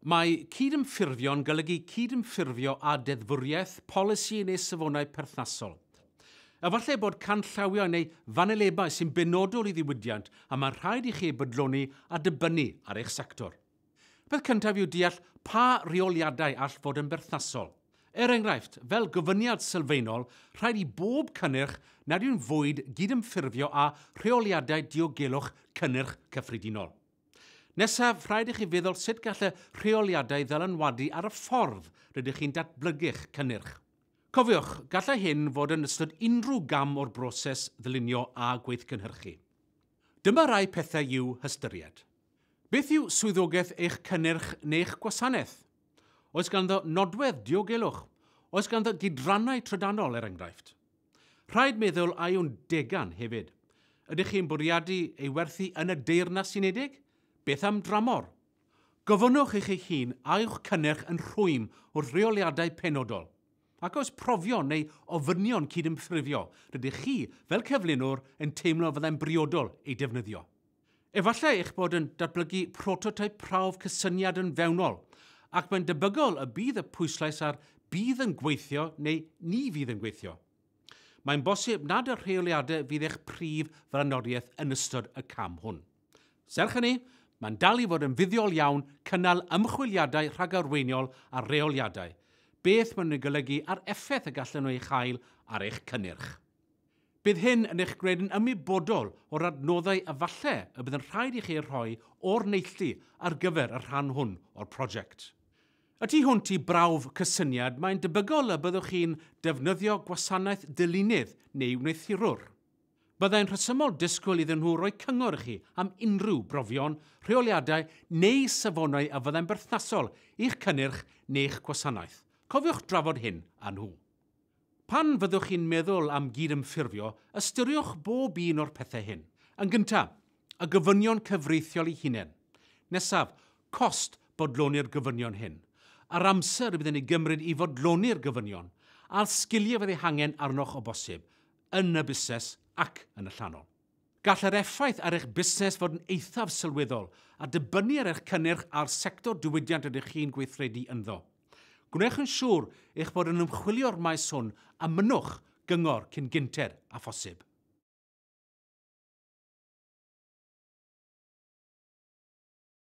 Mae cydymffurfio'n golygu cydymffurfio â deddfwriaeth, polisi neu safonau perthnasol. Efallai bod canllawiau neu fanylebau sy'n benodol i ddiwydiant a mae'n rhaid i chi eu bodloni a dibynnu ar eich sector. Y peth cyntaf yw deall pa reoliadau all fod yn berthnasol. Er enghraifft, fel gofyniad sylfaenol, rhaid i bob cynnyrch nad yw'n fwyd gydymffurfio â rheoliadau diogelwch cynnyrch cyffredinol. Nesaf, rhaid i chi feddwl sut gall y rheoliadau ddylanwadu ar y ffordd rydych chi'n datblygu'ch cynnyrch. Cofiwch, gallai hyn fod yn ystod unrhyw gam o'r broses ddylunio a gweithgynhyrchu. Dyma rai pethau i'w hystyried. Beth yw swyddogaeth eich cynnyrch neu'ch gwasanaeth? Oes ganddo nodwedd diogelwch? Oes ganddo gydrannau trydanol, er enghraifft? Rhaid meddwl a yw'n degan hefyd. Ydych chi'n bwriadu ei werthu yn y Deyrnas Unedig? Beth am dramor? Gofynnwch i chi hun a yw'ch cynnyrch yn rhwym wrth reoliadau penodol. Ac oes profion neu ofynion cydymffurfio rydych chi, fel cyflunwr, yn teimlo fyddai'n briodol eu defnyddio? Efallai eich bod yn datblygu prototeip prawf cysyniad yn fewnol, ac mae'n debygol y bydd y pwyslais ar bydd yn gweithio neu ni fydd yn gweithio. Mae'n bosib nad y rheoliadau fydd eich prif flaenoriaeth yn ystod y cam hwn. Serch hynny, mae'n dal i fod yn fuddiol iawn cynnal ymchwiliadau rhagarweiniol ar reoliadau, beth maen nhw'n ei golygu a'r effaith y gallan nhw ei chael ar eich cynnyrch. Bydd hyn yn eich gwneud yn ymwybodol o'r adnoddau a falle y bydd yn rhaid i chi eu rhoi o'r neilltu ar gyfer y rhan hwn o'r prosiect. Y tu hwnt i brawf cysyniad, mae'n debygol y byddwch chi'n defnyddio gwasanaeth dylunydd neu wneuthurwr. Byddai'n rhesymol disgwyl iddyn nhw roi cyngor i chi am unrhyw brofion, rheoliadau neu safonau a fyddai'n berthnasol i'ch cynnyrch neu'ch gwasanaeth. Cofiwch drafod hyn â nhw. Pan fyddwch chi'n meddwl am gydymffurfio, ystyriwch bob un o'r pethau hyn. Yn gyntaf, y gofynion cyfreithiol eu hunain. Nesaf, cost bodloni'r gofynion hyn, yr amser y bydd yn ei gymryd i fodloni'r gofynion, a'r sgiliau fydd eu hangen arnoch o bosib, yn y busnes ac yn y llanol. Gall yr effaith ar eich busnes fod yn eithaf sylweddol, a dibynnu ar eich cynnyrch a'r sector diwydiant rydych chi'n gweithredu ynddo. Gwnewch yn siŵr eich bod yn ymchwilio'r maes hwn a mynnwch gyngor cyn gynted â phosib.